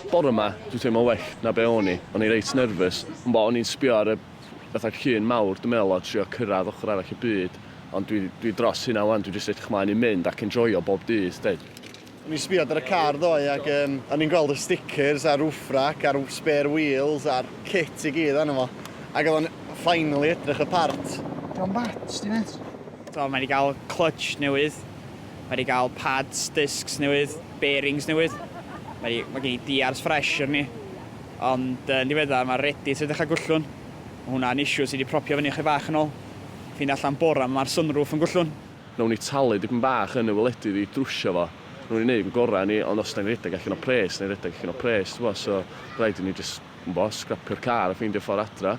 Bore ma, dwi'n teimlo well na be o'n i. O'n i reit nervous. Ond o'n i'n sbio ar y fatha llun mawr, dwi'n meddwl, a trio cyrraedd ochr arall y byd. Ond dwi, dwi dros hynna 'wan, dwi jyst edrych mlaen i mynd ac enjoio bob dydd, 'de. O'n i'n sbio ar y car ddoe ac yym o'n i'n gweld y stickers a'r roof rack a'r spare wheels a'r kit i gyd arno fo. Ac oedd o'n finally edrych y part. Dio'm bad, sti mêt. T'o' mae 'di ga'l clutch newydd. Mae wedi cael pads, discs newydd, bearings newydd. Mae wedi, mae gen i diars fresh ar ni. Ond yn ddiweddar mae Reddit wedi dechrau gwllwn. Mae hwnna'n issue sy wedi propio fyny chydig bach yn ôl. Ffeindio allan bora 'ma mae'r sunroof yn gwllwn. Nawn ni talu dipyn bach yn y wledydd i drwsio fo. Nawn ni neud yn gora ni, ond os 'da ni'n redeg allan o pres, 'da ni'n redeg allan o pres t'bo, so raid i ni jyst Gwmbo, scrapio'r car a ffeindio ffordd adra.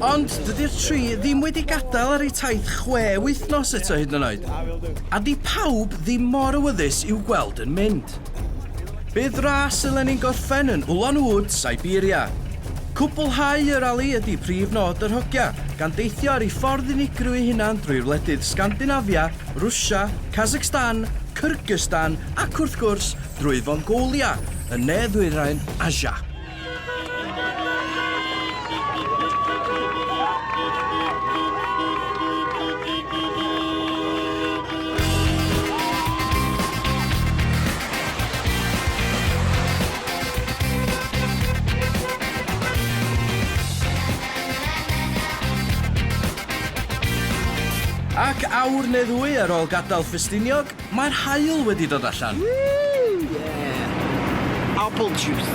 Ond dydi'r tri ddim wedi gadael ar eu taith chwe wythnos eto hyd yn oed, a 'di pawb ddim mor awyddus i'w gweld yn mynd. Bydd ras y Lenin gorffen yn Ulan Ude, Siberia. Cwblhau y rali ydi prif nod yr hogia, gan deithio ar ei ffordd unigryw ei hunan drwy'r wledydd Sgandinafia, Rwsia, Kazakhstan, Kyrgyzstan ac wrth gwrs, drwy Fongolia yn ne-ddwyrain Asia. Ac awr neu ddwy ar ôl gadael Ffestiniog, Mae'r haul wedi dod allan! Woo! Yeah! Apple juice!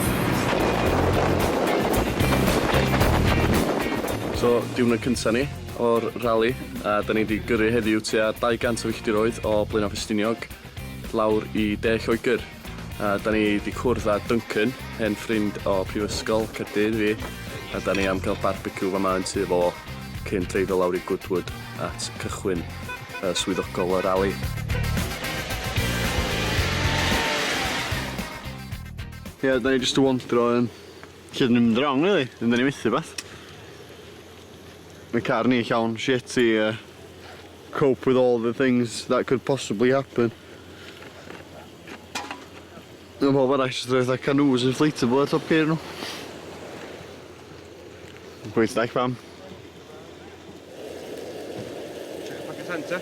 So, diwrnod cynta ni o'r rali, a 'da ni 'di gyrru heddiw tua 200 o filltiroedd o Blaenau Ffestiniog lawr i De Lloegr. A da ni 'di cwrdd â Duncan, hen ffrind o Prifysgol Caerdydd fi, a da ni am cael barbeciw fama yn tŷ fo cyn dreifio lawr i Goodwood at cychwyn y swyddogol y rali. Ie, yeah, da ni jyst yn wondro yn lle dyn ni'n mynd wrong, really, yn da ni methu beth. Mae car ni llawn shit i uh, cope with all the things that could possibly happen. Mae pobl arall jyst rhoi fatha canoes inflatable ar top ceir nhw. Gweith ddaeth pam. Check back at Hunter.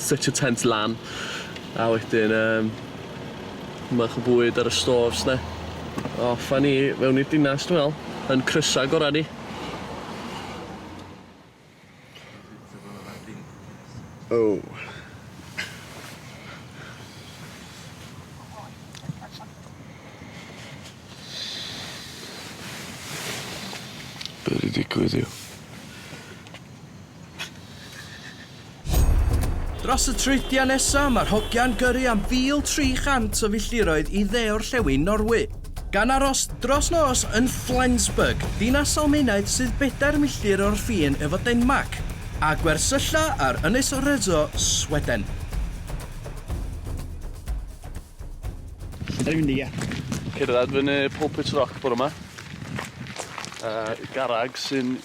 Setio tent lan a wedyn yym bach o bwyd ar y stores 'de. Off a ni fewn i'r dinas dwi me'wl. Yn crysa gora ni. O! Be' 'di digwydd yw Dros y treiddtiau nesaf, mae'r hogiau'n gyrru am 1,300 o filltiroedd i dde-orllewin Norwy, gan aros dros nos yn Flensburg, dinas Almaenaidd sydd bedair milltir o'r ffin efo Denmarc, a gwersylla ar Ynys Öresö, Sweden. Cerdded fyny Pulpit Rock bore 'ma, a garreg sy'n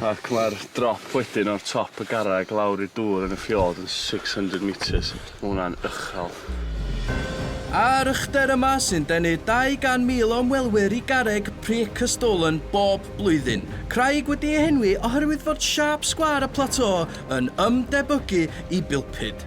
Ac mae'r drop wedyn o'r top y garreg lawr i'r dŵr yn y fiord yn six hundred metres. Mae hwnna'n uchel. A'r uchder yma sy'n denu 200,000 o ymwelwyr i garreg Preikestolen bob blwyddyn. Craig wedi ei henwi oherwydd fod siâp sgwâr y plateau yn ymdebygu i bilpud.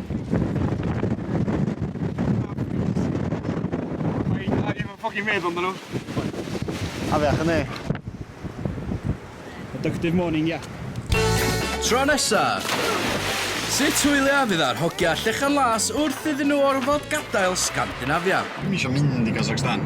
ffocin meddwl amdano. Afiach yn ei. Productive morning, ia. Tro nesa! Sut hwyliau fydd ar hogia llechan las wrth iddyn nhw orfod gadael Scandinavia? Dwi'm eisiau mynd i Kazakhstan.